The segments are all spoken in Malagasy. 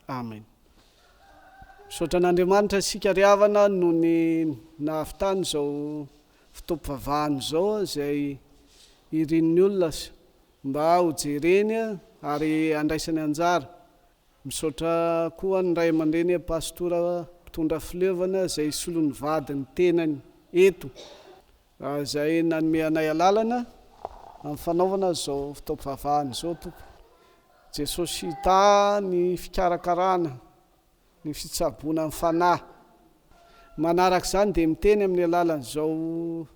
Amen. Misaotra an'Andriamanitra isika ry havana noho ny nahavitany izao fotoam-pivavahana izao izay irin'ny olona mba hojereny ary handraisany anjara. Misaotra koa ny ray aman-dreny Pastora mpitondra fileovana izay solon'ny vadin'ny tenany eto Raha izay nanome anay alalana amin'ny fanaovana izao fitaom-pivavahana izao Tompo Jesosy hita ny fikarakarana ny fitsaboana ny fanahy manaraka izany dia miteny amin'ny alalan'izao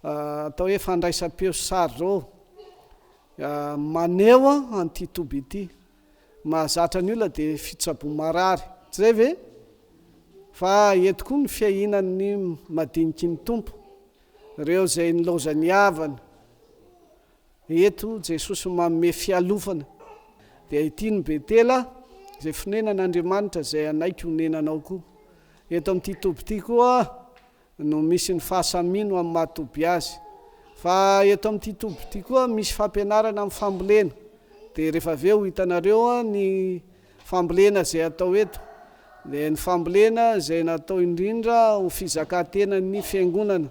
atao hoe fandraisam-peo sy sary izao maneho an'ity toby ity. mahazatra ny olona dia fitsaboa marary tsy izay ve? Fa eto koa ny fiahinan' ny madiniky ny Tompo, ireo izay nilaozan' ny havana. Eto Jesosy manome fialofana, dia ity ny Betela izay fonenan' Andriamanitra izay hanaiky honenanao koa. Eto amin' ity toby ity koa. no misy ny fahasamino amin'ny maha toby azy. Fa eto amin'ity toby ity koa misy fampianarana amin'ny fambolena. Dia rehefa avy eo ho hitanareo ny fambolena izay atao eto. Dia ny fambolena izay natao indrindra ho fizakan-tenan'ny fiangonana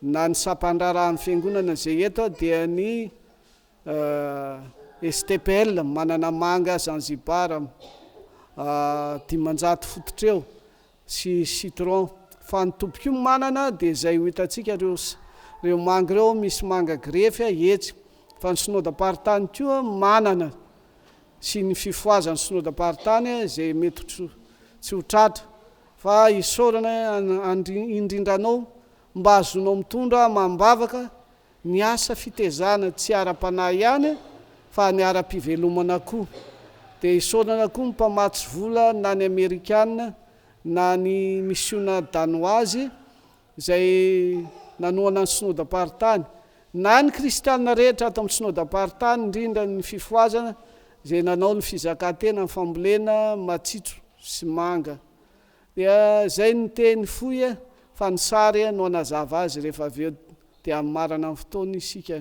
na ny sampan-draharahan'ny fiangonana izay eto dia ny STPL, Mananamanga Zanzibar, dimanjato fototra eo. sy citron fa ny tompoko io manana dia izay ho hitantsika reo reo manga reo misy manga grefy a etsy fa ny synodam-paritany koa manana sy ny fifohazan'ny synodam-paritany a izay mety ho tsy tsy ho tratra fa isaorana an indrindra anao mba azonao mitondra amam-bavaka Ny asa fitezana tsy ara-panahy ihany fa ny ara-pivelomana koa. Dia isaorana koa ny mpamatsy vola na ny amerikana na ny misiona danoazy izay nanohana ny synodam-paritany na ny kristiana rehetra ato amin'ny synodam-paritany indrindra ny fifohazana izay nanao ny fizakantena ny fambolena matsitso sy manga Dia zay ny teny fohy e, fa ny sary no hanazava azy rehefa avy eo dia hamamarana ny fotoana isika.